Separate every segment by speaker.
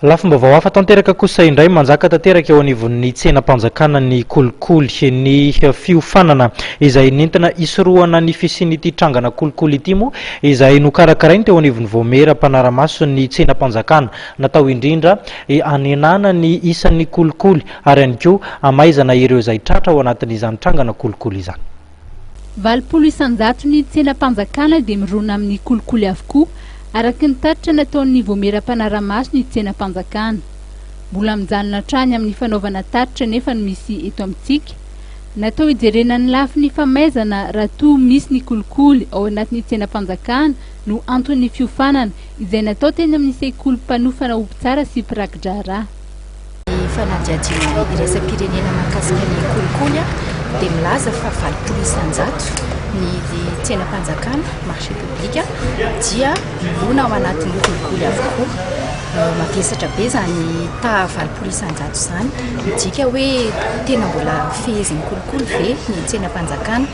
Speaker 1: Lafim-baovao hafa tanteraka kosa indray manjaka tanteraka eo anivon'ny tsenam-panjakana ny kolikoly. Ny fiofanana izay nentina hisorohana ny fisian'ity trangana kolikoly ity moa izay nokarakarainy teo anivon'ny Vaomiera mpanara-maso ny tsenam-panjakana natao indrindra hanenana ny isan'ny kolikoly ary ihany koa hamaizana ireo izay tratra ao anatin'izany trangana kolikoly izany. Valopolo
Speaker 2: isan-jato ny tsenam-panjakana dia mirona amin'ny kolikoly avokoa, araka ny tatitra nataon'ny Vaomiera Mpanara-maso ny tsenam-panjakana. Mbola mijanona hatrany amin'ny fanaovana tatitra anefa no misy eto amintsika. Natao hijerena ny lafiny famaizana raha toa misy ny kolikoly ao anatin'ny tsenam-panjakana no anton'ny fiofanana izay natao teny amin'ny sekoly mpanofana ho mpitsara sy mpiraki-draharaha. Ny
Speaker 3: fanadihadiana ny iraisampirenena mahakasika ny kolikoly dia milaza fa valopolo isanjato ny tsenam-panjakana, marché public, dia milona ao anatin'ny kolikoly avokoa. Euh, mavesatra be izany taha valopolo isanjato izany. Midika hoe tena mbola fehezin'ny kolikoly ve ny tsenam-panjakana?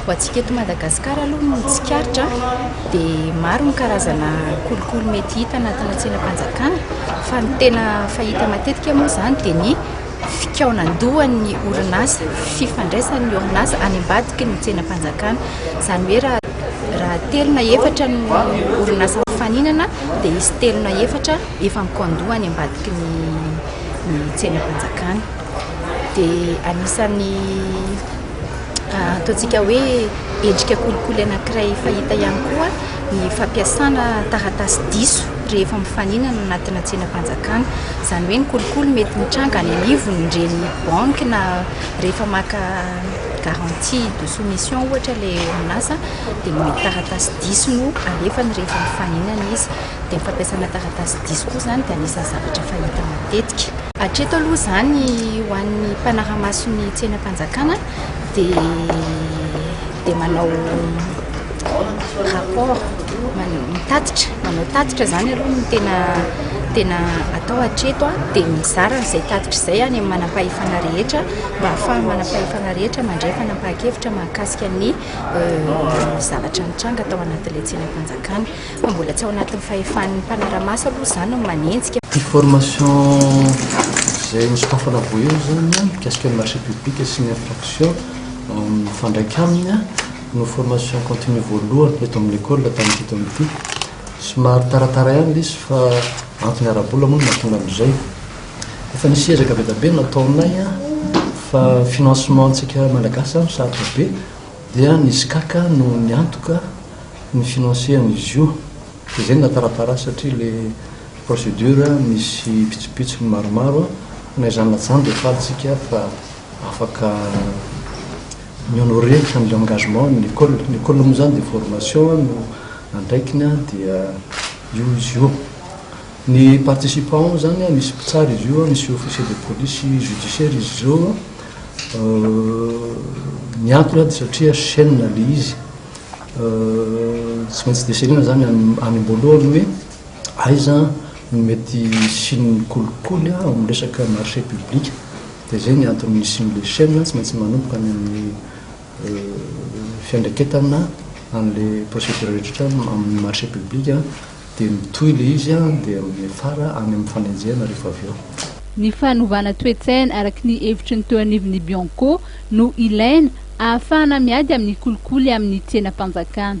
Speaker 3: Ho antsika eto Madagasikara aloha no tsikaritra dia maro ny karazana kolikoly mety hita anatina tsenam-panjakana fa ny tena fahita matetika moa izany dia ny fikaonan-dohan'ny orinasa, fifandraisan'ny orinasa any ambadiky ny tsenam-panjakana. Izany hoe raha raha telo na efatra ny orinasa mifaninana dia hisy telo na efatra efa mikaon-doha any ambadiky ny ny tsenam-panjakana. dia anisan'ny ataontsika hoe endrika kolikoly anankiray fahita ihany koa ny fampiasana taratasy diso rehefa mifaninana anatina tsenam-panjakana. Izany hoe ny kolikoly mety mitranga any anivon'ireny banky na rehefa maka garantie de soumission ohatra ilay orinasa dia ny taratasy diso no alefany rehefa mifaninana izy. Dia ny fampiasana taratasy diso koa izany dia anisan'ny zavatra fahita matetika. Hatreto aloha izany ho an'ny mpanara-maso ny tsenam-panjakana dia dia manao rapport, mitatitra, manao tatitra izany aloha no tena tena atao hatreto, dia mizara an'izay tatitra izay any amin'ny manam-pahefana rehetra mba ahafahan'ny manam-pahefana rehetra mandray fanapahan-kevitra mahakasika ny zavatra nitranga tao anatin'ilay tsenam-panjakana. Fa mbola tsy ao anatin'ny fahefan'ny mpanara-maso aloha izany no manenjika. Ity formation
Speaker 4: izay nosokafana vao eo izany mikasika ny marché public sy ny infraction mifandraika aminy no formation continue voalohany eto amin'ny école tamin'ity taona ity. Somary taratara ihany ilay izy fa antony ara-bola moa no nahatonga an'izay. Efa nisy ezaka be dia be nataonay fa financement antsika Malagasy izany sarotra be. dia ny Scac no niantoka ny finansian' izy io, dia izay no nahataratarasy satria ilay procédure misy pitsopitsony maromaro, fa na izany na izany dia faly tsika fa afaka mi-honorer an'ilay engagement ny Ecole, ny Ecole moa izany dia formation no andraikiny dia io izy io. Ny participants izany misy mpitsara izy io, misy officier de police judiciaire izy ireo. Ny antony dia satria chaine ilay izy. Tsy maintsy deserina izany any am-boalohany hoe aiza no mety hisian'ny kolikoly ao amin'ny resaka marché public. Dia izay ny antony nisian'ilay chaine, tsy maintsy manomboka any amin'ny fiandraiketana an'ilay procédure rehetra amin'ny marché public. Dia mitohy ilay izy an, dia miafara any amin'ny fanenjehana rehefa avy eo. Ny fanovana
Speaker 2: toe-tsaina araka ny hevitry ny teo anivon'ny Bianco no ilaina ahafahana miady amin'ny kolikoly amin'ny tsenam-panjakana.